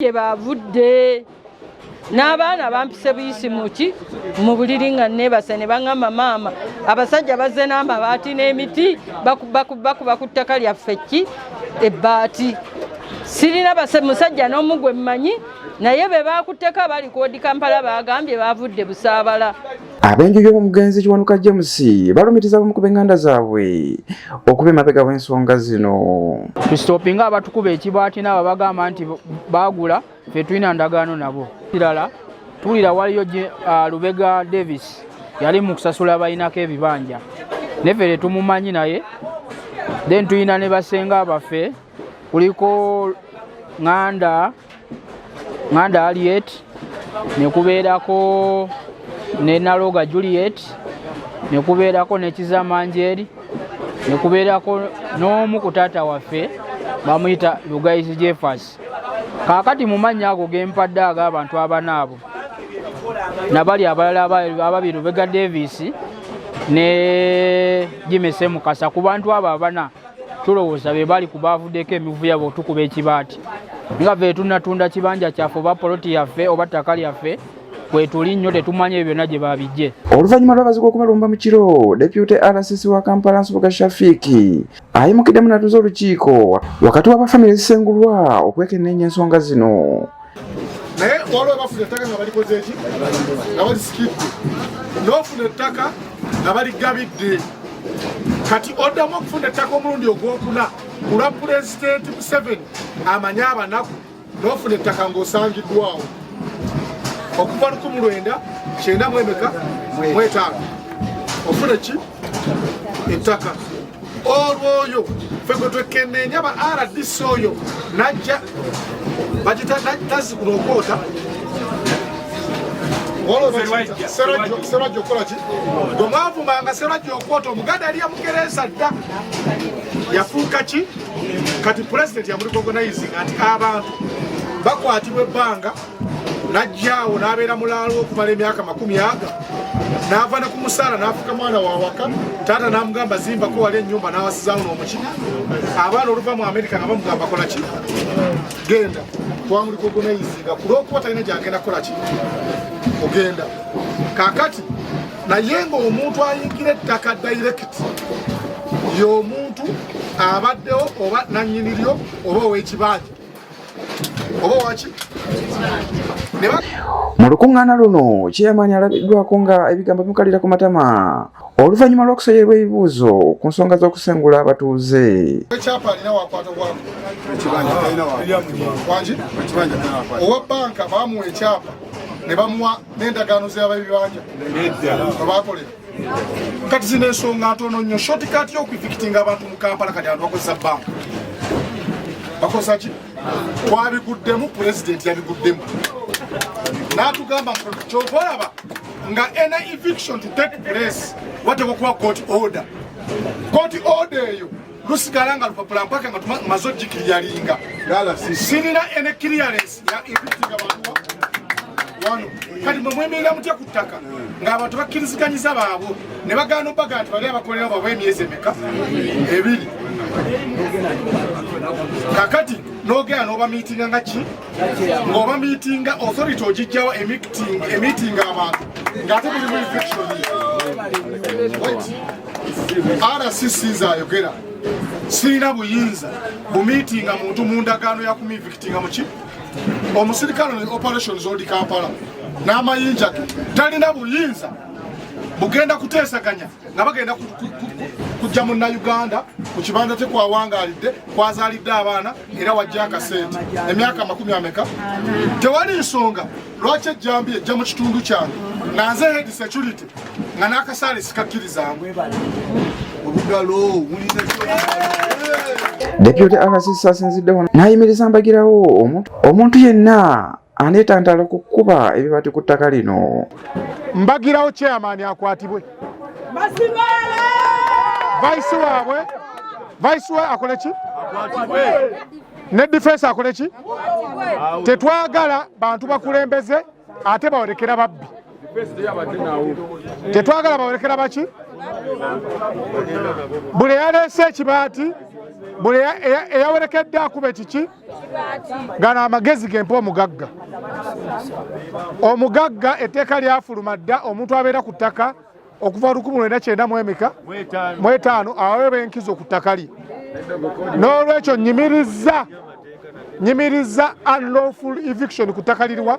gye baavudde n'abaana bampise buyisi muki mu buliri nga neebase ne baŋamba maama abasajja bazze n'amabaati n'emiti bakuba ku ttaka lyaffe ki ebbaati sirina musajja n'omu gwe mmanyi naye be baakutteko abali koodi kampala baagambye baavudde busaabala Ab'enju y'omugenzi Kiwanuka James balumiriza abamu ku b'enganda zaabwe okuba emabega w'ensonga zino. Tusitopinga abatukuba ekibaati n'abo bagamba nti baagula ffe tulina ndagaano nabo. Kirala tuwulira waliyo ah, Lubega Davis yali mu kusasula balinako ebibanja neffe tetumumanyi naye then tulina ne basenga baffe kuliko ŋŋanda ŋŋanda aliet ne kubeerako ne naloga juliet ne kubeerako ne kizamanjeri ne kubeerako n'omu ku taata waffe bamuyita lugayizi jeffers kaakati mu mannya ago ge mpadde ag'abantu abana abo nabali abalala ababiri lubega davis ne jimese mukasa ku bantu abo abana tulowooza be bali ku baavuddeko emivuya bwetukuba ekibaati nga ve tunatunda kibanja kyaffe oba poloti yaffe oba ttaka lyaffe kwetuli nnyo tetumanya ebyo byonna gye babijje oluvannyuma lw'abazigu okubalumba mu kiro depute rcc wa kampala nsubuga shafiiki ayimukiddemu natuza olukiiko wakati w'abafamire ezisengulwa okwekenneenya ensonga zino naye waliwo abafuna ettaka nga balikoze eki nga balisikidde nofuna ettaka nga baligabidde kati oddamu okufuna ettaka omulundi ogwokuna kulwa pulezidenti museveni amanye abanaku nofuna ettaka ngaosangiddwawo okuva lukumi lwenda kyenda mwemeka mwetaano ofuna ki ettaka olwoyo fe gwe twekenneenya ba rdc oyo najja bagita tazikula okwoota serwajja okukolaki gwe mwavumanga serwajja okwota omuganda yali yamukereesa dda yafuuka ki kati pulezidenti yamulikogonayizinga nti abantu bakwatibwa ebbanga najjaawo n'abeera mulaalo okumala emyaka makumi aga n'ava ne ku musaala n'afuka mwana wa waka taata n'amugamba zimbako wali ennyumba n'awasizaawo n'omuki abaana oluva mu amerika nga bamugamba kola ki genda twamuliko gunayizinga ku lw'okuba talina gyagenda kukola ki ogenda kakati naye ng'omuntu ayingira ettaka dayirekiti y'omuntu abaddewo oba nannyini lyo oba ow'ekibanja oba waki mu lukuŋŋaana luno kyeyamaanyi alabiddwako nga ebigambo bimukalira ku matama oluvannyuma lw'okusoyerwa ebibuuzo ku nsonga z'okusengula abatuuze owa banka bamuwa ekyapa ne bamuwa n'endagaano z'ababibanja bakolera kati zino ensonga ntono nnyo shotikati yokwifikitinga abantu mu kampala kati abantu bakozesa bank bakozesa ki twabiguddemu pulezidenti yabiguddemu natugamba kyova olaba nga ena eviction to take place watekwa kuba court order court order eyo lusigala nga lupapula mpaka nga tumaze ogikiriyalinga sirina ene kiriyalensi ya invitinga bantu wano kati mwe mwemerera mutya ku ttaka ng'abantu bakkiriziganyiza baabwe ne bagaana obaga nti bali abakolera baabwe emyezi emeka ebiri kakati n'ogenda n'obamiitinga nga ki ng'oba miitinga authority ogijjawo emiitinga abantu ng'ate mulimu infection rcc zayogera sirina buyinza bumiitinga muntu mu ndagaano yakumivikitinga muki omusirikale ne operations odi kampala n'amayinja ge talina buyinza bugenda kuteesaganya nga bagenda kujja munnauganda ku kibanda kye kwawangaalidde kwazaalidde abaana era wajja akasente emyaka amakumi ameka tewali nsonga lwaki ejjambi ejja mu kitundu kyange nga nze head security nga n'akasaale sikakkirizaamu Deputy RCC asinzidde wano n'ayimiriza mbagirawo omuntu yenna anetantala okukuba ebibati ku ttaka lino mbagirawo chairman akwatibwe vice waabwe vice wa akole ki ne defense akole ki tetwagala bantu bakulembeze ate bawolekera babbi tetwagala bawolekera baki buli eyaleese ekibaati buli eyawerekedde akube kiki gano amagezi gempa omugagga omugagga etteeka lyafuluma dda omuntu abeera ku ttaka okuva lukumi lwenda kyenda mwemeka mwetaano aweeba enkizo ku ttaka lye n'olwekyo nyimiriza nyimiriza unlawful eviction ku ttaka liriwa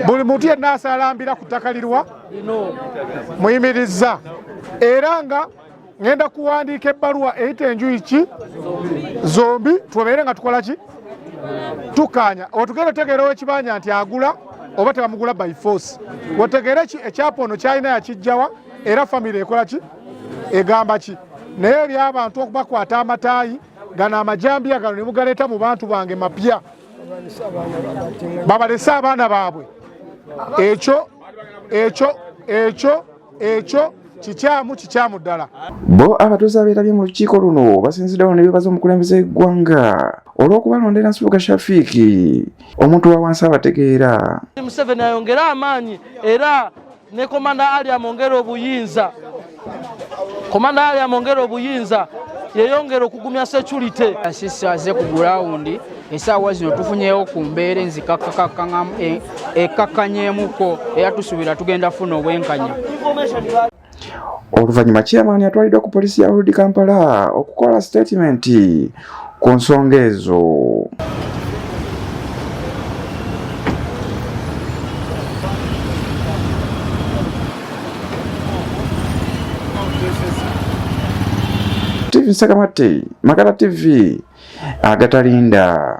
buli muntu yenna asalambira ku ttaka liriwa muyimiriza era nga ngenda kuwandiika ebbaluwa eyita enjuyi ki zombi tubabeere nga tukola ki tukkaanya otugenda otegeera owekibanja nti agula oba tebamugula by force otegeere ki ekyapa ono kyalina yakijjawa era famiry ekola ki egamba ki naye ebyabantu okubakwata amataayi gano amajambiya gano ne mugaleeta mu bantu bange mapya babalese abaana baabwe ekyo ekyo ekyo ekyo kikyamu kikyamu ddala bo abatuuze abeerabye mu lukiiko luno basinziddewo nebebaza omukulembeze w'eggwanga olw'okubalondera nsibuga shafiiki omuntu wa wansi abategeera museveni ayongere amaanyi era ne komanda ali amwongere obuyinza komanda ali amwongere obuyinza yeyongere okugumya security asisi aze ku gurawundi esaawa zino tufunyewo ku mbeera enzikakakakaŋamu e, ekakkanyeemuko era tusuubira tugenda funa obwenkanya oluvannyuma chairman atwaliddwa ku poliisi ya old kampala okukola sitatimenti ku nsonga ezo TV Sakamate, Makala TV, agatalinda.